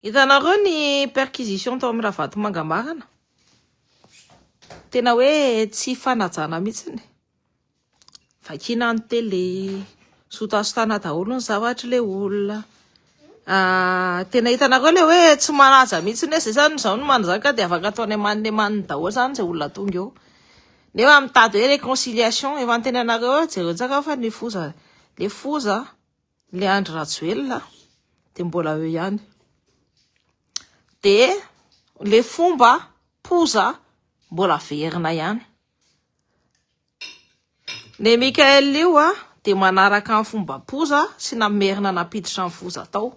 Hitanareo ny perquisition tao amin'ny Ravatomanga marina? Tena hoe tsy fanajana mihitsiny. Vakina ny télé, sotasotana daholo ny zavatr'ilay olona. Ah, tena hitanareo le hoe tsy manaja mihitsiny hoe zay zany izao no manjaka dia afaka ataony amaniny amaniny daholo zany izay olona tonga eo. Nefa mitady hoe réconciliation, efa antenainareo eo, jereo tsara fa ny foza, le foza. le Andry Rajoelina de mbola eo ihany de le fomba poza mbola averina ihany le Michael io a de manaraka ny fomba poza sy namerina nampiditra ny foza tao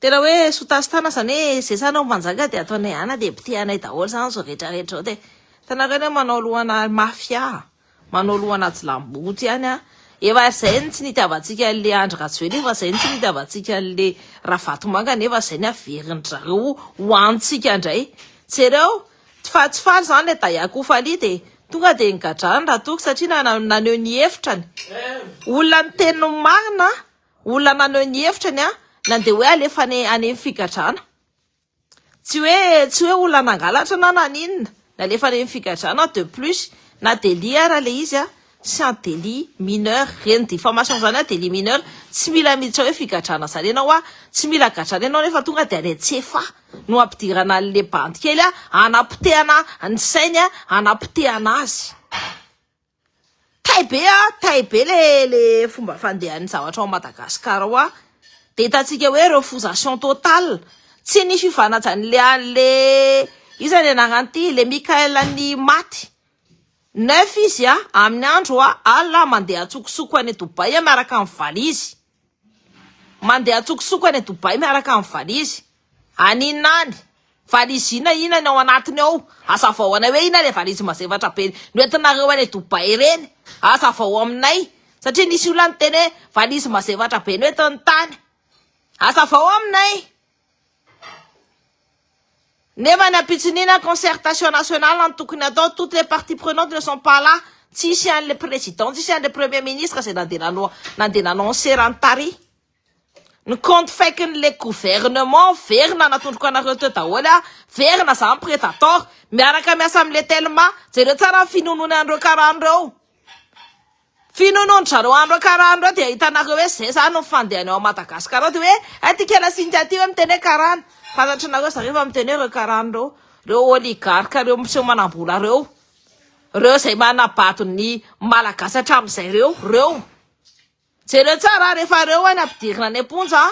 Tena hoe sotasitana zany hoe ze sanao mpanjaka de ataonay ana depite anay daholo zany zao rehetra rehetra zao de hitanareo anie manao lohana mafia manao lohana jilamboto ihany an efa zay ny tsy nitiavantsika an'le Andry Rajoelina efa zay ny tsy nitiavantsika an'le Ravatomanga nefa zay ny averindry zareo ho antsika ndray jereo fa tsy faly zany le Dayak ho faly de tonga de nigadrany raha toky satria naneho ny hevitrany olona ny teniny marina Olona naneho ny hevitra ny ahy na dia hoe alefa any any amin'ny figadrana. Tsy hoe tsy hoe olona nangalatra na naninona, nalefa any amin'ny figadrana aho de plus na délit ara ilay izy a, c'est un délit mineur, ireny diffamation ireny a délit mineur, tsy mila miditra hoe figadrana izany ianao a, tsy mila gadrana ianao nefa tonga dia any an-tsefa no hampidirana an'ilay bandy kely a, hanapotehana ny sainy a, hanapotehana azy. Tay be a, tay be le le fomba fandehan'ny zavatra ao Madagascar ao a, de hitantsika hoe refusation totale, tsy ny fifanajan'ny le a le iza ny anarany ty le Mickaël an'ny maty, neuf izy a amin'ny andro a alina mandeha antsokosoko any Dubaï miaraka amin'ny valizy. Mandeha an-tsokosoko any Dubaï miaraka amin'ny valizy. Any inona any? Valizy inona inona ny ao anatiny ao? Hazavao anay hoe inona ilay valizy mazefatra be noentinareo any Dubaï ireny? Hazavao aminay satria nisy olona niteny hoe valizy mazefatra be noentiny tany. Hazavao aminay. Nefa ny ampitson'ina concertation nationale no tokony atao, toutes les parties prenantes ne sont pas là, tsisy an'le président, tsisy an'le premier ministre izay nandeha nanao nandeha nanao ny seran'ny tary. Ny compte faikin'le gouvernement very nanatondroka anareo teo daholo an, very na za ny predator, miaraka miasa am'le telma, jereo tsara ny finoanoany an'ireo karana ireo. Finoanoan-dry zareo andro karana ireo dia ahitana ireo hoe izay izany ny fandehany ao Madagascar ao dia hoe hay ty kela sy ingahy ty hoe miteny hoe karana. Fantatrinareo zareo fa miteny hoe ireo karana ireo, ireo oligarque ireo miseho manambola ireo, ireo izay manabado ny malagasy hatramin'izay ireo, ireo. Jereo tsara rehefa ireo any ampidirina any am-ponja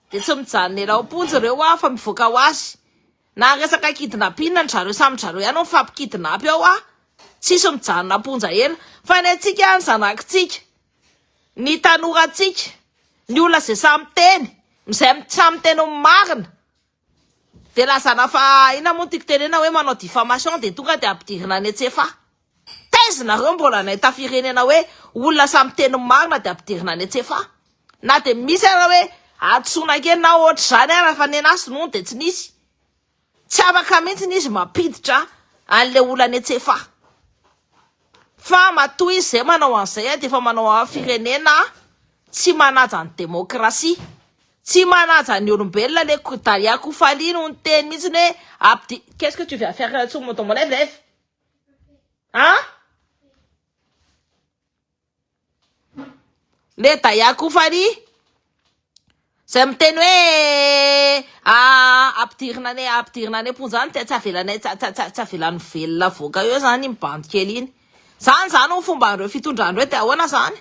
dia tsy mijanona ela ao am-ponja ireo fa mivoaka ho azy. Na resaka kidnapina ndry zareo samy zareo ihany no mifampikidnapy ao a! Tsisy mijanona am-ponja ela. Fa ny antsika, ny zanakitsika, ny tanorantsika, ny olona izay sahy miteny, izay sahy miteny ny marina dia lazana fa inona moa ny tiako tenenina hoe manao diffamation dia tonga dia ampidirina any an-tsefa. Taiza nareo mbola nahita firenena hoe olona samy miteny ny marina dia ampidirina any an-tsefa? Na dia misy ara hoe hadisoana kely na ohatr'izany ara fa nenazy nono dia tsy nisy. Tsy afaka mihitsy izy mampiditra an'ilay olona any an-tsefa. Fa matoa izy izay manao an'izay dia efa manao firenena tsy manaja ny demokrasia, tsy manaja ny olombelona le Dalia Kofali no niteny mihitsy hoe qu'est-ce que tu viens faire là-dessous mon ton mon lève lève. An? Le Daya Kofari izay miteny hoe ampidirina any ampidirina any am-ponja any tsy avelanay tsy tsy avelany velona avoaka eo izany iny bandy kely iny. Izany izany ho fomban'ireo fitondrana ireo dia ahoana izany?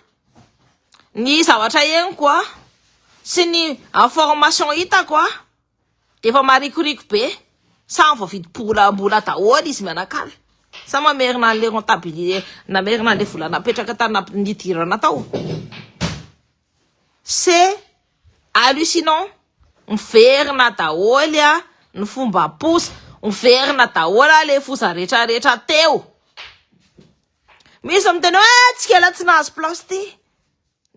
Ny zavatra henoko an, sy ny information hitako an. Efa marikoriko be, samy voavidy bola mbola daholo izy mianakavy, sa mamerina an'le rentabilite, namerina an'le vola napetraka tany namp- nidirana tao? C'est hallucinant, miverina daholo ny fomba pousse, miverina daholo le foza rehetra rehetra teo, misy miteny hoe eh tsikela tsy nahazo place ty,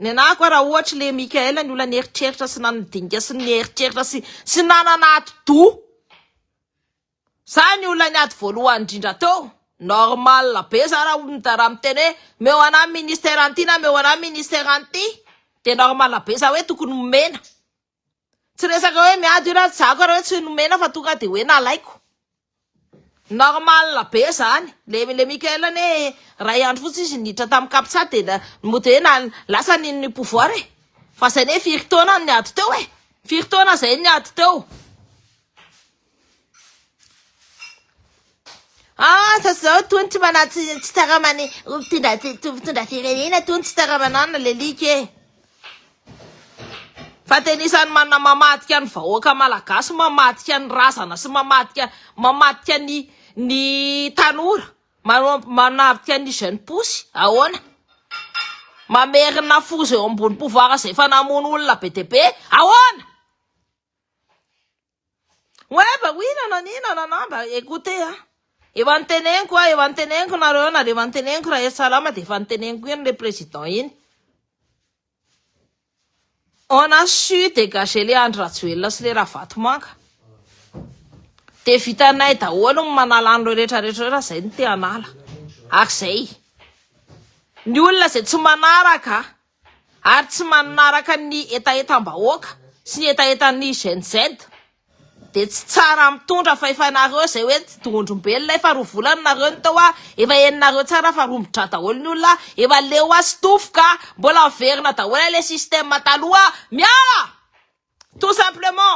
Ny anah koa raha ohatra le Mickaël ny olona nieritreritra sy nanana dinika sy nieritreritra sy sy nanana atidoha za ny olona niady voalohany indrindra teo normal be za raha olona raha miteny hoe meo anah ministère an'ity na meo anah ministère an'ity de normal be za hoe tokony omena Tsy resaka hoe miady io raha tsy zako ary hoe tsy nomena fa tonga dia hoe nalaiko. Normal be zany. Le le Michael ne ray andro fotsy izy niditra tamin'ny captcha dia mody hoe na lasa ny ny pouvoir e. Fa zay ne firy taona ny ady teo e. Firy taona zay ny ady teo. Asa zao tony tsy mana tsy tsy taramany mpitondra mpitondra firenena tony tsy taramanana le lika e. Fa tena isan'ny manana mamadika ny vahoaka malagasy, mamadika ny razana sy mamadika mamadika ny ny tanora, manadika ny jeune pousse ahoana? Mamerina foza eo ambony pouvoir izay efa namono olona be dia be ahoana? Oe ba oui nanani nanana ba écoutez a efa niteneniko a efa niteneniko nareo nareo efa niteneniko raha ery salama de efa niteneniko iny le président iny on a su dégager le Andry Rajoelina sy le Ravatomanga de vitanay daholo ny manala an'ireo rehetra rehetra ireo raha izay no te hanala ak'izay ny olona izay tsy manaraka ary tsy manaraka ny hetahetam-bahoaka sy ny hetahetan'ny Gen Z dia tsy tsara mitondra fa efa nareo izay hoe tsy dohondrombelona efa roa volana nareo no tao ah efa henonareo tsara fa rombodra daholo ny olona ah efa leo ah sitofo ka mbola miverina daholo ilay système taloha miala tout simplement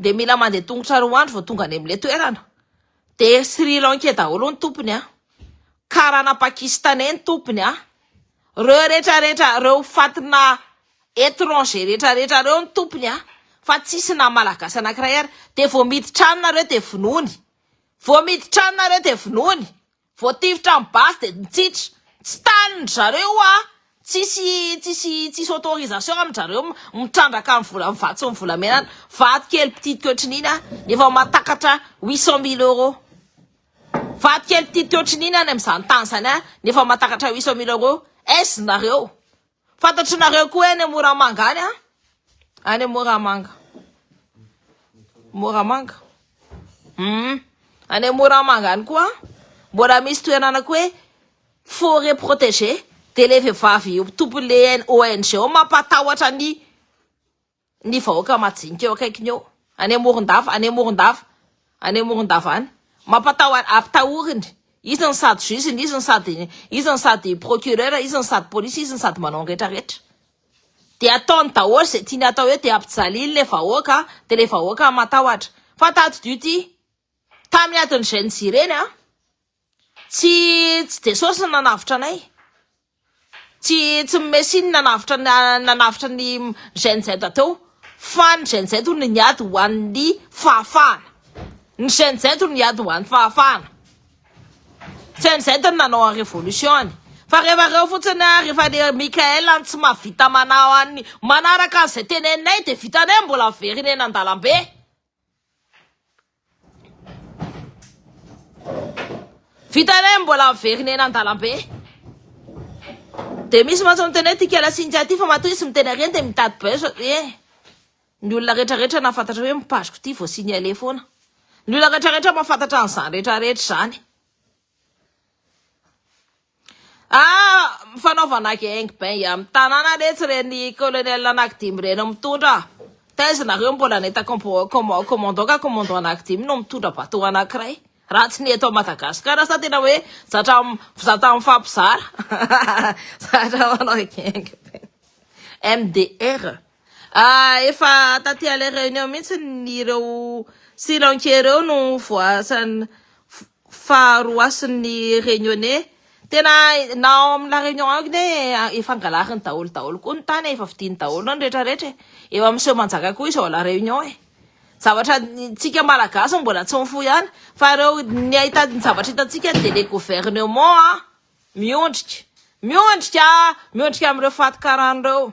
dia mila mandeha tongotra roa andro vao tonga any amin'ilay toerana, dia Sri Lankais daholo ny tompony an! karana Pakistanais ny tompony an! reo retraretra reo fatina etranger retraretra reo ny tompony an! fa tsisy na malagasy anankiray ary, dia vao miditra any nareo dia vonoiny, vao miditra any nareo dia vonoiny, Voatifitra ny basy dia nitsitra. Tsy tanin-dry zareo io an! Tsisy tsisy tsisy autorisation amin-dry zareo mitrandraka amin'ny vola amin'ny vato sy ny volamena any. Vato kely mpititiky ohatran'iny an! Efa mahatakatra huit cent mille euros. Vato kely mpititiky ohatran'iny any amin'izany tany izany an! Efa mahatakatra huit cent mille euros. Est-ce nareo? Fantatrinareo koa any Moramanga any a? Any Moramanga. Moramanga. Hmm. Any Moramanga any koa mbola misy toerana koa hoe forêt protégée dia ilay vehivavy tompon'ilay ONG ao mampatahotra ny ny vahoaka majinika eo akaikiny eo any Amorondava any Amorondava any Amorondava any mampatahotra ampitahoriny izy ny sady juge ny izy ny sady izy ny sady procureur izy ny sady police izy ny sady manao ny rehetra rehetra dia ataony daholo izay tiany atao eo dia ampijaliny le vahoaka dia le vahoaka matahotra fa tato dio ty tamin'ny adin'izay nijireny a tsy tsy de sosy nanavotra anay Tsy tsy ny Messi no nanavotra ny nanavotra ny Gen Z teo fa ny Gen Z hono niady ho an'ny fahafahana. Ny Gen Z hono niady ho an'ny fahafahana. Gen Z no nanao an'ny révolution-ny. Fa rehefa reo fotsiny a, rehefa le Mickaël any tsy mahavita manao an'ny manaraka an'izay teneninay dia vitanay mbola very ny eny an-dalambe. Vita indray ny mbola miverina eny an-dalambe. Dia misy mantsy miteny hoe ity Kela sy Intia ity fa matoa izy miteny ary eny dia mitady buzz aty e. Ny olona rehetrarehetra nahafantatra hoe mipaziko ity vao signaler foana. Ny olona rehetrarehetra mahafantatra an'izany rehetrarehetra izany. Ah! fanaovana gang bang amin'ny tanàna anie tsy ren'ny colonel anankidimy ireny mitondra ah! taiza nareo mbola nahita commandant ka commandant anankidimy no mitondra bateau anankiray raha tsy ny eto à Madagasikara sa tena hoe zatra zatra mifampizara zatra manao gang bang MDR Efa taty à la réunion mihitsy ireo Sri Lankais ireo no voasan fa roasin ny Réunionnais. Tena na ao amin la réunion ao k'ne efa angalariny daholo daholo koa ny tany e, efa vidiny daholo ny rehetra rehetra e. Eo amin seho manjaka koa izy ao à la réunion e. Zavatra tsika malagasy mbola tsy mifoha ihany fa ireo ny ahita ny zavatra hitantsika dia le gouvernement miondrika miondrika miondrika amin ireo fatin-karana ireo.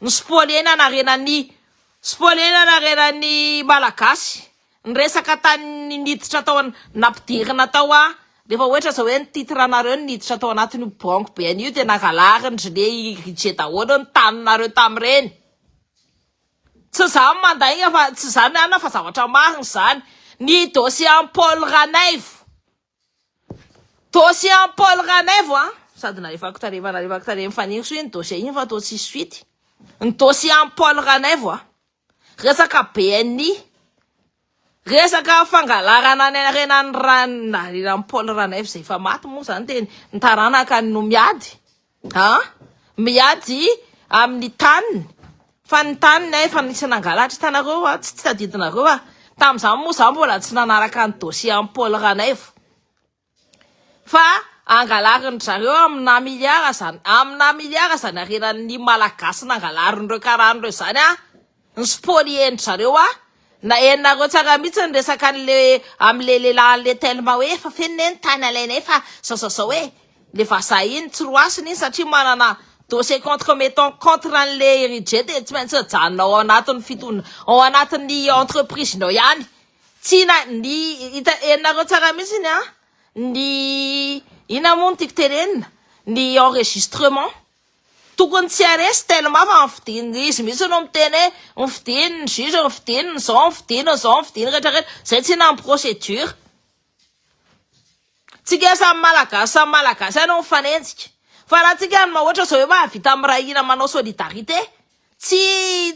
Ny spoliena narena ny spoliena narena ny Malagasy ny resaka tany niditra tao an nampidirina tao a rehefa ohatra zao hoe ny titre nareo niditra tao anatin'io banky be an'io dia nangalarindry le rije daholo ny taninareo tamin'ireny tsy za no mandainga fa tsy za mianina fa zavatra marina izany ny dossier an'i Paul Ranaivo Dossier an'i Paul Ranaivo an! Sady nalefako tarehy efa nalefako tarehy an'i Fanirisoa iny dossier iny fa toa tsisy suite. Ny dossier an'i Paul Ranaivo an! Resaka BNI, resaka fangalarana ny harena ny ra- ny harena an'i Paul Ranaivo izay efa maty moa izany dia ny taranakany no miady. An! Miady amin'ny taniny fa ny taniny an efa nisy nangalatra hitanareo an, tsy tadidinareo an, tamin'izany moa za mbola tsy nanaraka ny dossier an'i Paul Ranaivo fa angalarin-dry zareo amina milliard zany, amina milliard zany harenan'ny malagasy nangalarin'ireo karana ireo zany an! Ny spolier ndry zareo a! Na henonareo tsara mihitsy ny resaka anle amle lehilahy anle telma hoe efa feno ne ny tany alainay fa zao zao zao e! le vazaha iny tsy roasina iny satria manana dossier contre mettons contre anle Herije de tsy maintsy ajanona ao anatiny fitondra ao anatiny entreprise nao ihany tsy na ny hita henonareo tsara mihitsy ny a! ny inona moa no tiako tenenina ny enregistrement. Tokony tsy haresy telma fa ny fidiny izy mihitsy no miteny hoe ny fidiny ny juge ny fidiny ny zao ny fidiny ny zao ny fidiny rehetra rehetra zay tsy hina ny procédure tsika samy malagasy samy malagasy any mifanenjika fa raha tsika no mahoatra zao hoe mahavita miray hina manao solidarité tsy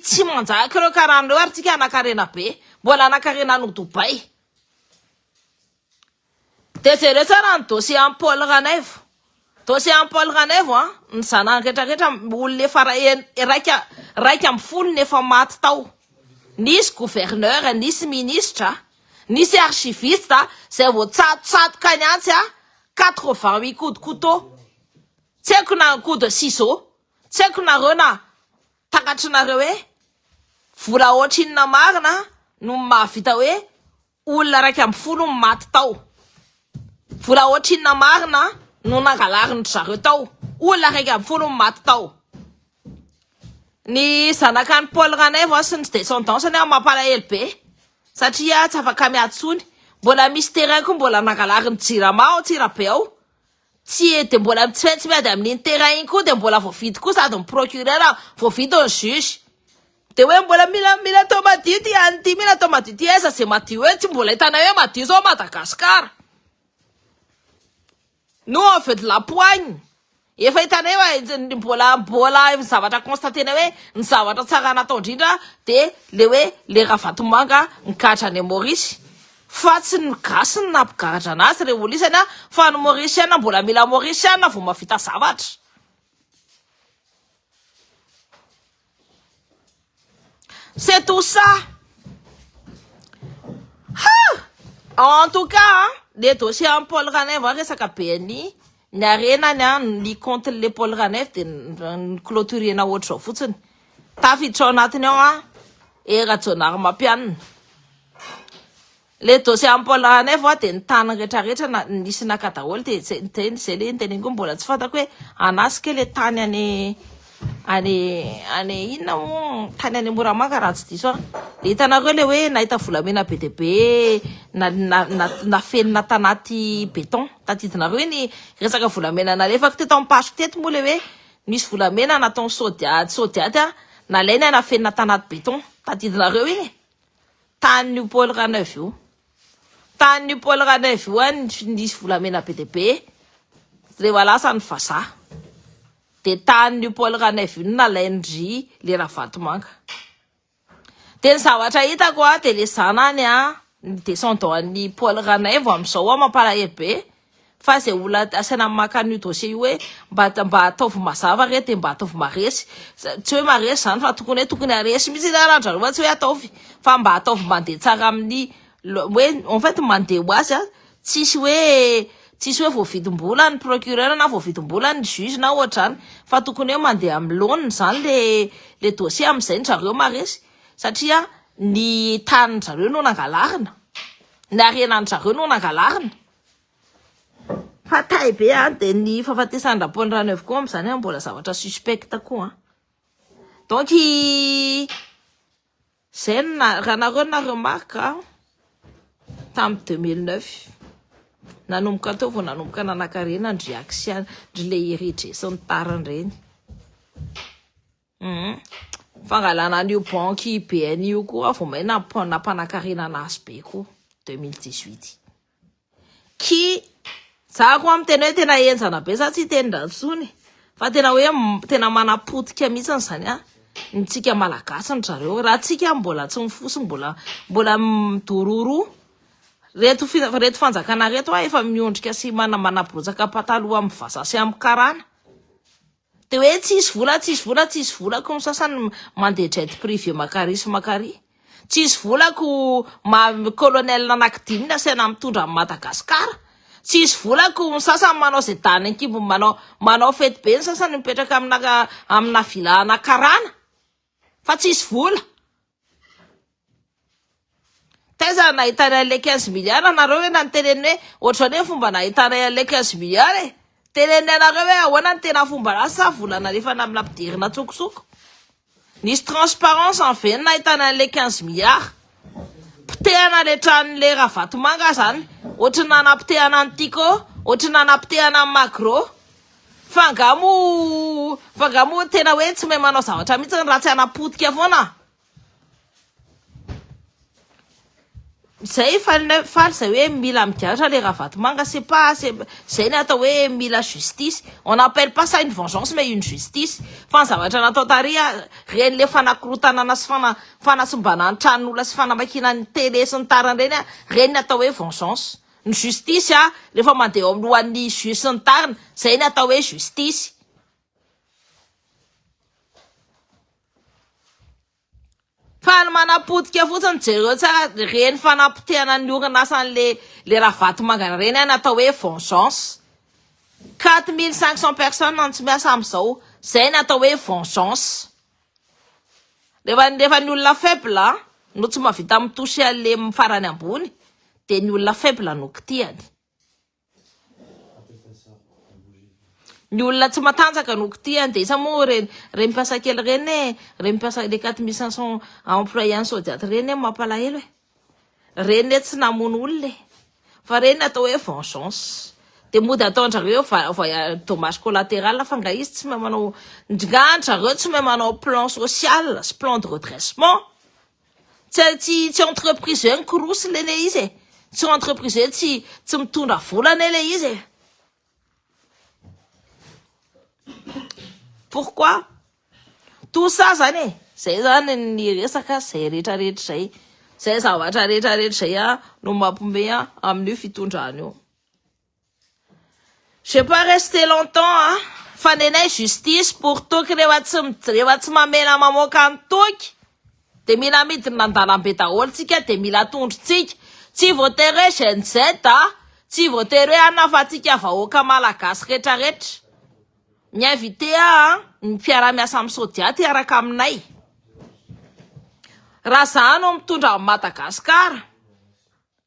tsy manjaka ireo karana ireo ary tsika hanakarena be mbola hanakarena any Dubaï Dia jereo tsara ny dossier an'i Paul Ranaivo. Dossier an'i Paul Ranaivo an, ny zanany rehetra rehetra olona efa raika raika ambin'ny folo no efa maty tao. Nisy gouverneur, nisy ministra, nisy archiviste izay voatsatotsatoka any antsy an, quatre vingt huit coups de couteau. Tsy haiko na un coup de ciseaux. Tsy haiko nareo na takatrinareo hoe vola ohatrinona marina no mahavita hoe Olona iraika ambin'ny folo no maty tao. Vola ohatrinona marina no nangalarin-dry zareo tao? Olona iraika ambin'ny folo no maty tao. Ny zanakan'i Paul Ranaivo sy ny descendance-ny aho mampalahelo be satria tsy afaka miady intsony. Mbola misy terrain koa mbola nangalarin'ny Jirama ao Antsirabe ao. Tsy eo dia mbola tsy tsy miady amin'iny terrain iny koa dia mbola voavidy koa sady ny procureur voavidy ny juge. Dia hoe mbola mila mila atao madio ity any ity, mila atao madio ity, aiza izay madio eo? Tsy mbola hitanay hoe madio izao Madagascar. Nous on veut de la poigne. Efa hitanay hoe aiza ny mbola mbola ny zavatra constater-nay hoe ny zavatra tsara natao indrindra dia le hoe le Ravatomanga ny gadra any Maurice. Fa tsy ny gasy no nampigaradrana azy re olisany a, fa ny mauriciana mbola mila mauriciana vao mahavita zavatra. C'est tout ça. Ha! En tout cas an, le dossier an'i Paul Ranaivo an, resaka BNI, ny harenany an, ny compte-n'le Paul Ranaivo dia ni-clôturer-na ohatr'izao fotsiny. Tafiditra ao anatiny ao an, eh Rajaonarimampianina. Le dossier ampola anay vao dia ny tany retraretra na nisy naka daholo dia zay zay zay le niteneniko hoe mbola tsy fantako hoe anah ce que le tany any any any inona moa tany any Moramanga raha tsy diso aho le hitanareo le hoe nahita volamena be dia be na na na nafenina tanaty béton tadidinareo iny resaka volamena nalefako teto amin'ny page-ko teto moa le hoe nisy volamena nataony sodiady sodiady a nalainy a nafenina tanaty béton tadidinareo iny e Tanin'io Paul Ranaivo io. Tanin'io Paul Ranaivo io any nisy volamena be dia be rehefa lasa ny vazaha. Dia tanin'io Paul Ranaivo io nalain-dry le Ravatomanga. Dia ny zavatra hitako dia le zanany ny descendant an'i Paul Ranaivo amin'izao mampalahelo be. fa izay olona asaina maka an'io dossier io hoe mba mba ataovy mazava re dia mba ataovy maresy tsy hoe maresy izany fa tokony hoe tokony haresy mihitsy ny rahandrareo fa tsy hoe ataovy fa mba ataovy mandeha tsara amin'ny hoe en fait mandeha ho azy a tsisy hoe tsisy hoe voavidim-bola ny procureur na voavidim-bola ny juge na ohatrany fa tokony hoe mandeha amin'ny laoniny izany le le dossier amin'izay ny zareo maresy satria ny tanin-dry zareo no nangalarina ny harenan-dry zareo no nangalarina Fatay be a, dia ny fahafatesan'i Raponirano avy koa amin'izany an, mbola zavatra suspect koa an. Donc izay no na, raha nareo na remarque a, tamin'ny deux mille neuf, nanomboka teo vao nanomboka nanakarena ny réaction, ndry le Hery Hery sy ny tariny ireny. Humm. Fangalana an'io banky BNI io koa vao may nampanakarena azy be koa 2018. Ki za koa miteny hoe tena henjana be za tsy hiteny ndratsy tsony fa tena hoe tena manapotika mihitsy izany a ny tsika malagasy ny zareo raha tsika mbola tsy mifoso mbola mbola midororo reto reto fanjakana reto a efa miondrika sy mana manabrotsaka pataloha amin'ny vaza sy amin'ny karana Dia hoe tsisy vola, tsisy vola, tsisy vola ko ny sasany mandeha jet privé makary sy makary. Tsisy vola ko maha colonel anakidimy ny asaina mitondra an'i Madagascar. Tsisy vola ko ny sasany manao izay dahany ankibony manao, manao fety be ny sasany mipetraka amina, amina villa ana karana. Fa tsisy vola. Taiza nahitanay anle quinze milliards nareo hoe nanoteneniny hoe ohatrany hoe fomba nahitanay anle quinze milliards e. Teneniny anareo hoe ahoana ny tena fomba anazy sa vola nalefany amina mpidirina antsokosoko. Nisy transparence an ve ny nahitanay anle quinze milliards. Potehana le tranonle Ravatomanga zany ohatrany nanapotehana an'i Tiko, ohatrany nanapotehana an'i Magro. Fa nga moa fa nga moa tena hoe tsy mahay manao zavatra mihitsy ny raha tsy hanapotika foana zay faly nay faly zay hoe mila migadra le Ravatomanga c'est pas c'est zay ny atao hoe mila justice on appelle pas ça une vengeance mais une justice fa ny zavatra natao tary a reny le fanakorontanana sy fana fanasimbanana ny tranon'olona sy fanamakiana ny tele sy ny tariny reny a reny ny atao hoe vengeance ny justice a rehefa mandeha eo amin'lohan'ny juge sy ny tariny zay ny atao hoe justice. Fa ny manapotika fotsiny jereo tsara reny fanapotehana ny orinasa an'le le ravatomangana reny a ny atao hoe vengeance. Quatre mille cinq cent personnes no tsy miasa amizao zay ny atao hoe vengeance. Rehefa rehefa ny olona faible no tsy mahavita mi-toucher an'le farany ambony dia ny olona faible no kitihany. Ny olona tsy matanjaka no kitihany dia isa moa ireny ireny mpiasa kely ireny e, ireny mpiasa les 4500 employés any Sodiat ireny e mampalahelo e. Reny le tsy namono olona e. Fa reny atao hoe vengeance. Dia mody ataondrareo hoe va- voyage dommage collateral fa nga izy tsy mahay manao nga andrareo tsy mahay manao plan social sy plan de redressement. Tsy a- tsy tsy entreprise hoe mikorosy le le izy e. Tsy entreprise hoe tsy tsy mitondra vola anie le izy e. Pourquoi? Tout ça zany e, zay zany ny resaka, zay rehetra rehetra zay, zay zavatra rehetra rehetra zay a no mampome a amin'io fitondrana io. J'ai pas resté longtemps a, fa nenay justice pour toky rehefa tsy rehefa tsy mamela mamoaka ny toky. de mila amidina andalambe daholo tsika de mila atondro tsika, tsy voatery hoe Gen Z a, tsy voatery hoe anona fa tsika vahoaka malagasy retra retra, mi invite ahy an ny mpiara miasa am sodiat hiaraka aminay, raha za no mitondra an Madagascar.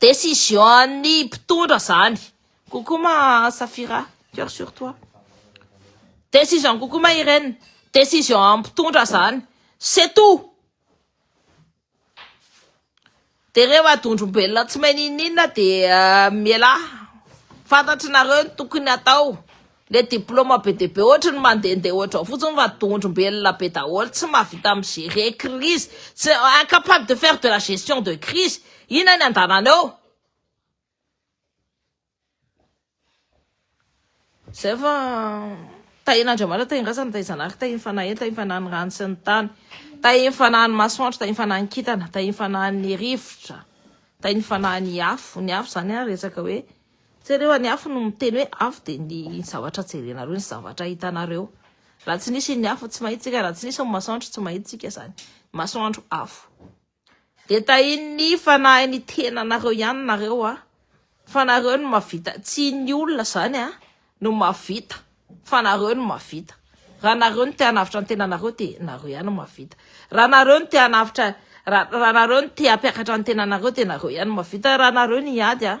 Décision an'ny mpitondra zany. Coucou ma Safira, cœur sur toi. Décision coucou ma Irène, décision an'ny mpitondra zany. C'est tout. Dia rehefa dondrombelona tsy mahay n'inon'inona dia mialà. Fantatry nareo ny tokony hatao. Le diploma be dia be ohatry ny mandehandeha ohatrao fotsiny fa dondrombelona be daholo tsy mahavita mi gerer crise tsy incapable de faire de la gestion de crise inona ny andanana eo zay fa tahin' Andriamanitra tahin' razana tahin' zanahary tahin' fanahy tahin' fanahy ny rano sy ny tany tahin' fanahy ny masoandro tahin' fanahy ny kintana tahin' fanahy ny rivotra tahin' fanahy ny afo ny afo zany ary resaka hoe Jereo any afo no miteny hoe afo dia ny zavatra jerenareo ny zavatra hitanareo raha tsy nisy ny afo tsy mahitsika raha tsy nisy ny masoandro tsy mahitsika zany masoandro afo dia tahin'ny fanahy ny tenanareo ihany nareo a fa nareo no mavita tsy ny olona zany a no mavita fa nareo no mavita raha nareo no tehanavitra ny tenanareo dia nareo ihany mavita raha nareo no tehanavitra raha nareo no tehampiakatra ny tenanareo dia nareo ihany mavita raha nareo ny ady a